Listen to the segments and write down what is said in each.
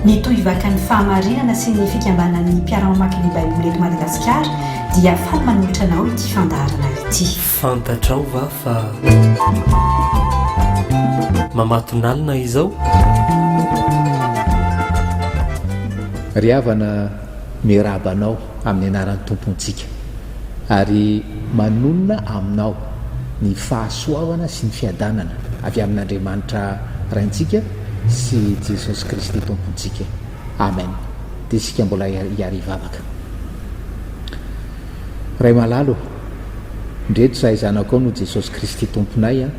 Mitohy vaka ny fahamarinana sy ny fikambanan'ny mpiara-mamaky ny Baiboly eto Madagasikara dia faly manolotra anao ity fandaharana ity. Fantatrao va fa mamatonalina izao? Ry havana Miarahaba anao amin'ny anaran'ny Tompontsika ary manonona aminao ny fahasoavana sy ny fiadanana avy amin'Andriamanitra Raintsika sy Jesosy Kristy Tompontsika. Amen! Dia isika mbola hiara hivavaka. Ray malala ô, ndreto zahay zanakao noho Jesosy Kristy Tomponay an,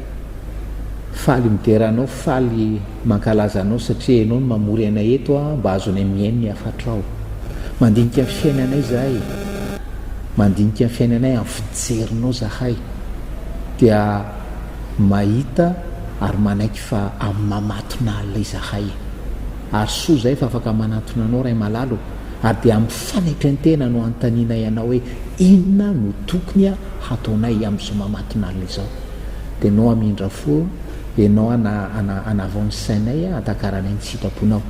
faly midera Anao, faly. Mankalaza anao satria enao no mamory anay eto a mba azonay mihaino ny hafatrao. Mandinika ny fiainanay zahay e. Mandinika ny fiainanay amin'ny fijerinao zahay dia mahita ary manaiky fa amin'ny maha matonalina izahay e. Ary soa zahay fa afaka manantona anao Ray malala o. Ary dia amin'ny fanaitren-tena no anontanianay anao hoe inona no tokony hataonay amin'izao maha matonalina izao. dia nao hamindra fo enao ana ana anavao ny sainay antakaranay ny tsy hitaponao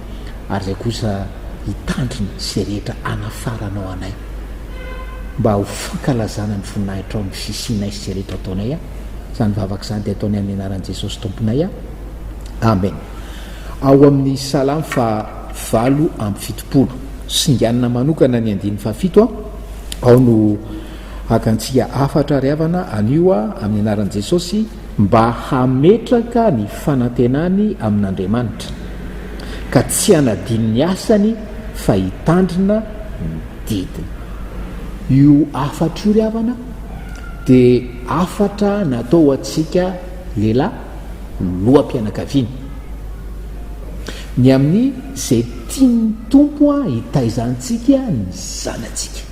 ary izay kosa hitandrina sy rehetra anafaranao anay mba ho fankalazana ny voninahitrao amin'ny fisianay sy izay rehetra ataonay a izany vavaka izany dia ataonay amin'ny anaran'i Jesosy Tomponay a Amen ao amin'ny salamo fa valo amby fitopolo singanina manokana ny andininy fahafito a ao no Haka antsika hafatra ry havana anio aho amin'ny anaran'i Jesosy mba hametraka ny fanantenany amin'Andriamanitra ka tsy hanadino ny asany fa hitandrina ny didiny. Io hafatra io ry havana dia hafatra natao ho antsika lehilahy loham-pianakaviana. Ny amin'izay tian'ny Tompo hitaiza antsika ny zanatsika.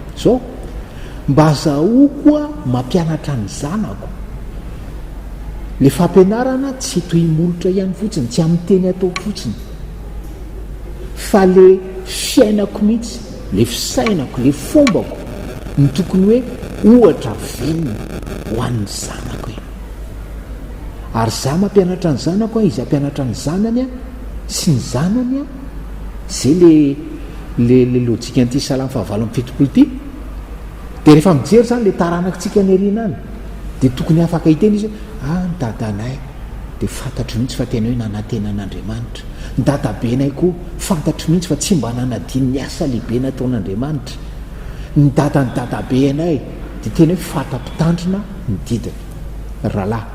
Zao, mba azahoako a mampianatra ny zanako. Le fampianarana tsy toy ny molotra ihany fotsiny, tsy amin'ny teny ataoko fotsiny. Fa le fiainako mihitsy, le fisainako, le fombako no tokony hoe ohatra vinny ho an'ny zanako e. Ary za mampianatra ny zanako an, izy hampianatra ny zanany an, sy ny zanany an, zay le le le lojikan'ity salamo fahavalo amby fitopolo ity. Dia rehefa mijery zany le taranakitsika any aoriana any, dia tokony afaka hiteny izy hoe ah ny dadanay dia fantatro mihitsy fa tena hoe nanantena an'Andriamanitra, ny dadabenay koa fantatro mihitsy fa tsy mba nanadino ny asa lehibe nataon'Andriamanitra, ny dadan'ny dadabe anay. Dia teny hoe fata mpitandrina ny didiny. Rahalahy,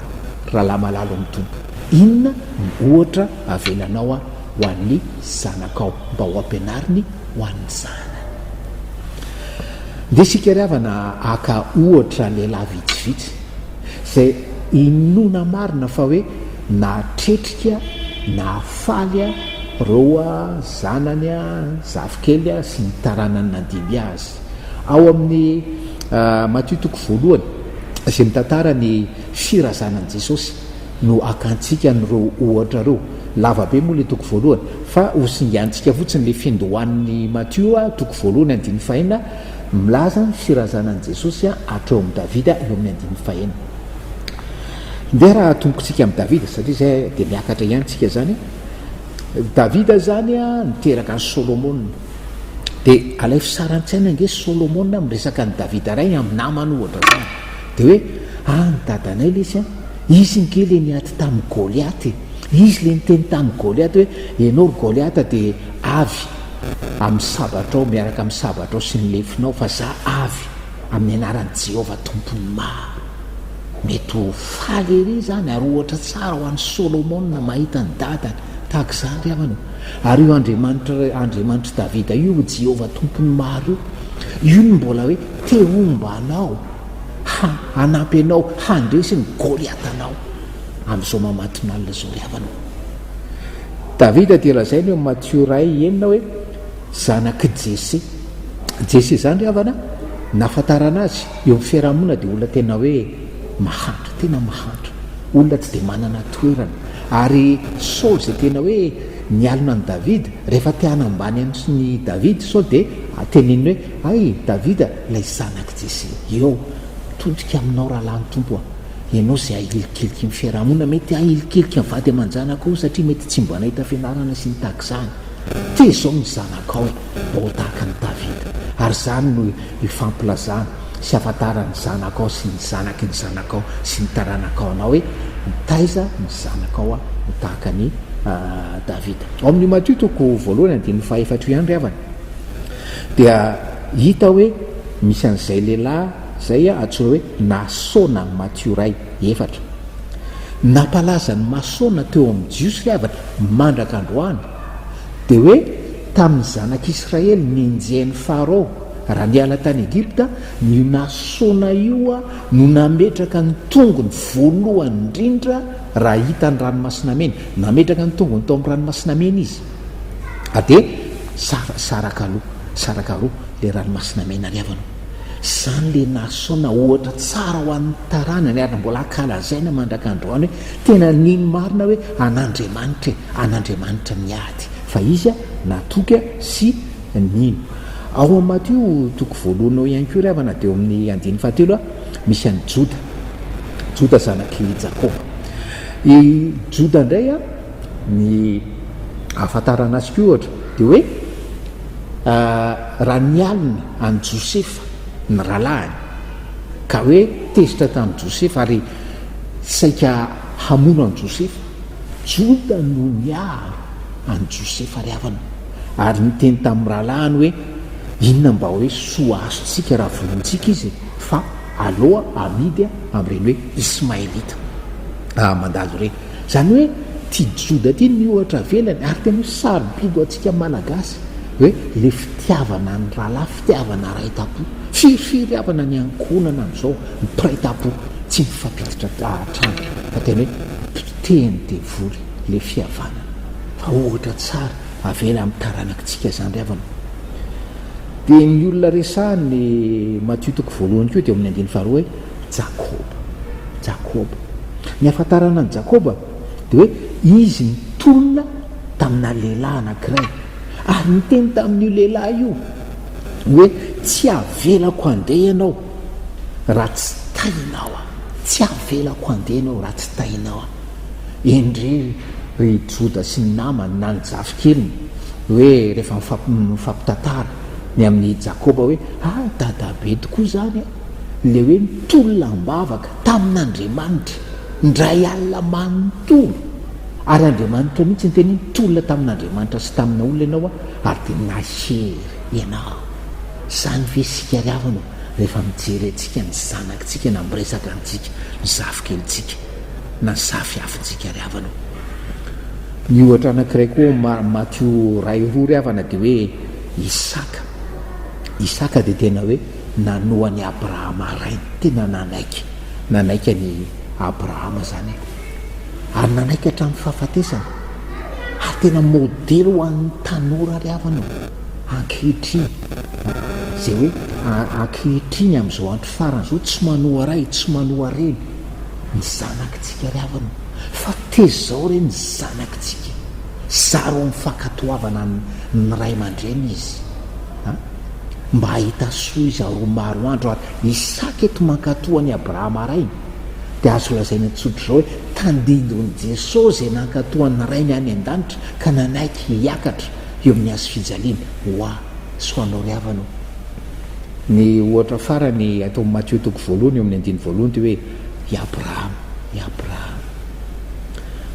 rahalahy malalo amin'ny Tompo, inona no ohatra avelanao ho an'ny zanakao mba ho ampianariny ho an'ny zanany? Ndeha isika ry havana haka ohatra lehilahy vitsivitsy izay inoana marina fa hoe nahatretrika, nahafaly ireo zanany zafikely sy ny taranany nandimby azy. Ao amin'ny Matio toko voalohany, izay mitantara ny firazanan'i Jesosy, no akantsika an'ireo ohatra ireo. Lava be moa ilay toko voalohany, fa hosingantsika fotsiny ilay fiandohan'ny Matio toko voalohany andininy fahenina, milaza ny firazanan'i Jesosy hatreo amin'i Davida, eo amin'ny andininy fahenina. Ndeha raha atombokintsika amin'i Davida, satria izay dia miakatra ihany isika izany. Davida izany niteraka an'i Solomona. Dia alaivo sary an-tsaina ange Solomona miresaka an'i Davida rainy amin'ny namany ohatra izany. Dia hoe, any dadanay ilay izy an, izy ange ilay niady tamin'i Goliata e. Izy ilay niteny tamin'i Goliata hoe, ianao ry Goliata dia avy amin'ny sabatrao, miaraka amin'ny sabatrao sy ny lefinao, fa za avy amin'ny anaran'i Jehovah Tompon'ny maro. Mety ho faly ery izany ary ohatra tsara ho an'i Solomona mahita ny dadany tahaka izany ry havana. Ary io Andriamanitra, Andriamanitr'i Davida io, io Jehovah Tompon'ny maro io, io no mbola hoe te homba anao, ha, hanampy anao handresy ny Goliatanao amin'izao mamatonalina izao ry havana. Davida dia lazaina eo amin'ny Matio iray enina hoe zanak'i Jese. Jese izany ry havana, nahafantarana azy, eo amin'ny fiarahamonina dia olona tena hoe. Mahantra, tena mahantra, olona tsy dia manana toerana, ary Saoly izay tena hoe nialona an'i Davida, rehefa te hanambany an'i Davida Saoly dia teneniny hoe, Hay Davida ilay zanak'i Jese, eo, todika aminao rahalahy ny Tompo an, ianao izay ahilikiliky ny fiarahamonina, mety ahilikiliky ny vady aman-janakao satria mety tsy mba nahita fianarana sy ny tahaka izany, tezao ny zanakao mba ho tahaka an'i Davida, ary izany no ifampilazana. sy ahafantaran'ny zanakao sy ny zanaky ny zanakao sy ny taranakao anao hoe mitaiza ny zanakao aho ho tahaka an'i Davida. Ao amin'io Matio toko voalohany andininy fahaefatra io ihany ry havana dia hita hoe misy an'izay lehilahy izay antsoina hoe Nasona, Matio iray, efatra. Nampalaza an'i Masona teo amin'ny Jiosy ry havana mandraka androany. Dia hoe tamin'ny zanak'Israely nenjehin'i Farao raha niala tany Egypta, ny Nasona io no nametraka ny tongony voalohany indrindra raha hita ny Ranomasina Mena. Nametraka ny tongony tao amin'ny Ranomasina Mena izy. A dia sara, saraka aloha, saraka aloha ilay Ranomasina Mena ry havana o. Izany ilay Nasona ohatra tsara ho an'ny taranany ary mbola ankalazaina mandrak'androany hoe Tena nino marina hoe an'Andriamanitra e, an'Andriamanitra ny ady, fa izy natoky sy nino. Ao amin'ny Matio toko voalohany ao ihany koa ry havana dia ao amin'ny andininy fahatelo misy an'i Joda, Joda zanak'i Jakoba. I Joda indray ny ahafantarana azy koa ohatra dia hoe raha nialona an'i Josefa ny rahalahiny ka hoe tezitra tamin'i Josefa ary saika hamono an'i Josefa, Joda no niaro an'i Josefa ry havana ary niteny tamin'ny rahalahiny hoe, Inona mba hoe soa azontsika raha vonointsika izy e? Fa aleo amidy amin'ireny hoe Ismaelita mandalo ireny. Izany hoe ity Joda ity ny ohatra avelany ary tena hoe sarobidy ho antsika Malagasy hoe ilay fitiavana ny rahalahy, fitiavana ray tampo. Firifiry havana ny ankohonana amin'izao mpiray tampo tsy mifampiditra hatrany fa tena hoe potehin'ny devoly ilay fihavanana. Fa ohatra tsara avela amin'ny taranakitsika izany ry havana. Dia ny olona resahany Matio toko voalohany koa dia eo amin'ny andininy faharoa hoe. Jakoba. Jakoba. Ny ahafantarana an'i Jakoba dia hoe izy nitolona tamina lehilahy anankiray, ary niteny tamin'io lehilahy io hoe, Tsy havelako handeha ianao raha tsy tahinao aho. Tsy havelako handeha ianao raha tsy tahinao aho. Endrey ry Joda sy ny namany na ny zafikeliny hoe rehefa mifampitantara ny amin'i Jakoba hoe, Ah, dadabe tokoa izany e! Ilay hoe nitolona am-bavaka tamin'Andriamanitra indray alina manontolo, ary Andriamanitra mihitsy niteny hoe nitolona tamin'Andriamanitra sy tamina olona ianao aho ary dia nahery ianao. Izany ve isika ry havana ô, rehefa mijery antsika ny zanakintsika na miresaka amintsika ny zafikelintsika na ny zafiafintsika ry havana ô? Ny ohatra anankiray koa ao amin'ny Matio iray roa ry havana dia hoe Isaka. Isaka dia tena hoe. nanoa an'i Abrahama rainy, tena nanaiky, nanaiky an'i Abrahama izany e, ary nanaiky hatramin'ny fahafatesana, ary tena modely ho an'ny tanora ary havana e, ankehitriny, izay hoe ankehitriny amin'izao andro farany izao tsy manoa ray, tsy manoa reny ny zanakitsika ry havana, fa tezao re ny zanakitsika, zary ho mifankatoavana ny ray aman-dreny izy an! Mba hahita soa izaho roa maro andro ary misy saka eto mankatoa an'i Abrahama rainy, dia azo lazaina tsotra izao hoe tandindon'i Jesoa izay nankatoa an'ny Rainy any an-danitra ka nanaiky hiakatra eo amin'ny hazo fijaliana ho ahy sy ho anao ry havana ô. Ny ohatra farany ataon'i Matio toko voalohany eo amin'ny andininy voalohany dia hoe i Abrahama, i Abrahama.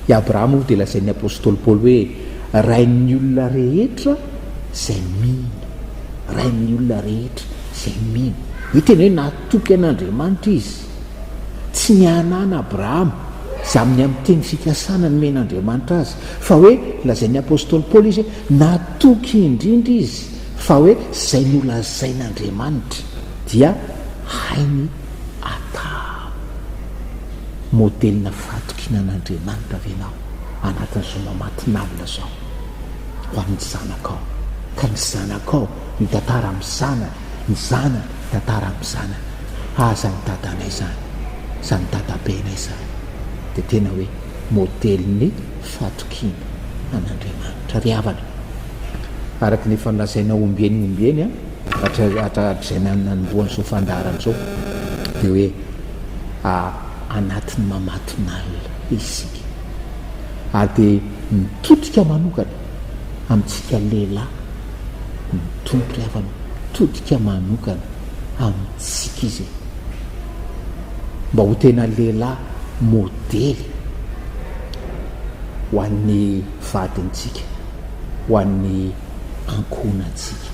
I Abrahama moa dia lazain'ny apostoly Paoly hoe rain'ny olona rehetra izay mino, Ray amin'ny olona rehetra izay mino. Io teny hoe natoky an'Andriamanitra izy. Tsy ny anan'i Abrahama, izany ny amin'ny teny fikasana nomen'Andriamanitra azy, fa hoe lazain'ny apostoly Paoly izy hoe natoky indrindra izy fa hoe izay nolazain'Andriamanitra dia hainy atao. Modelina fahatokiana an'Andriamanitra ve ianao anatin'izao mamatinalina izao? ho amin'ny zanakao, ka ny zanakao mitantara amin'ny zanany, ny zanany mitantara amin'ny zanany, ah izany dadanay izany, izany dadabenay izany dia tena hoe modelin'ny fatokiana an'Andriamanitra. Ry havana, araka ny efa nolazaina ombieny ombieny hatr hatrizay nanombohan'ny izao fandaharana izao dia hoe anatin'ny mamatonalina isika. ary dia mitodika manokana amintsika lehilahy ny Tompo rehefa mitodika manokana amintsika Izy e! Mba ho tena lehilahy modely ho an'ny vadintsika, ho an'ny ankohonantsika.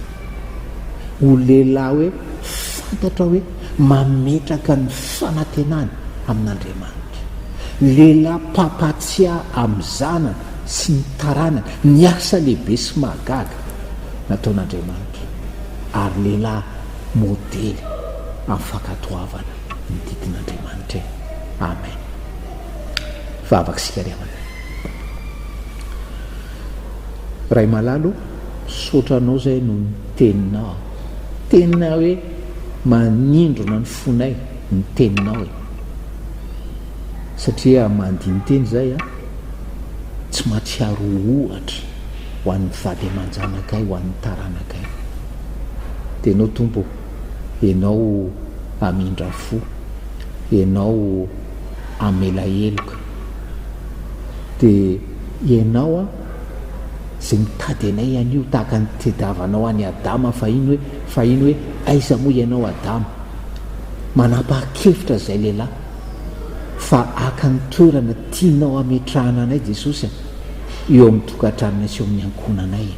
ho lehilahy hoe fantatra hoe mametraka ny fanantenany amin'Andriamanitra, lehilahy mpampahatsiahy amin'ny zanany sy ny taranany ny asa lehibe sy mahagaga nataon'Andriamanitra, ary lehilahy modely amin'ny fankatoavana ny didin'Andriamanitra e! Amen! Vavaka isika ry amanay. Ray malala o, misaotra anao zay no niteninao. Tena hoe manindrona ny fonay ny teninao e. Satria mandini-teny zay an, tsy matsiaro ho ohatra ho an'ny vady aman-janakay, ho an'ny taranakay. Dia enao Tompo o, enao amindra fo, enao amela heloka. Dia. Ianao an, izay mitady anay anio tahaka ny nitediavanao an'i Adama fahiny hoe, fahiny hoe, Aiza moa ianao Adama? Manapaha-kevitra izay lehilahy fa haka ny toerana tianao hametrahana anay Jesosy an, eo amin'ny tokantranonay sy eo amin'ny ankohonanay e.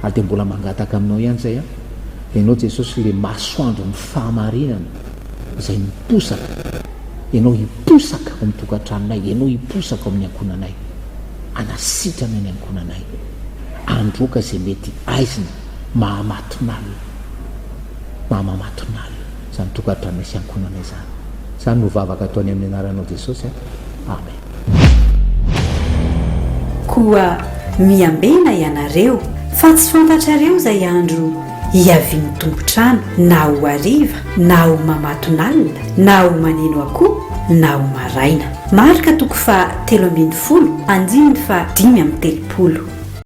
Ary dia mbola mangataka aminao ihany izay an, Ianao Jesosy ilay masoandron'ny fahamarinana, izay miposaka ianao hiposaka ao amin'ny tokantranonay, ianao hiposaka ao amin'ny ankohonanay, hanasitrana ny ankohonanay, handroaka izay mety haizina maha-mahatonalina, maha-mamatonalina izany tokantranonay sy ankohonanay izany. Izany no vavaka ataonay amin'ny anaranao Jesosy. Amen. Koa miambena ianareo, fa tsy fantatrareo izay andro hiavian'ny tompon-trano, na ho hariva, na ho mamatonalina, na ho maneno akoho, na ho maraina. Marka toko faha telo ambin'ny folo, andininy faha dimy amby telopolo.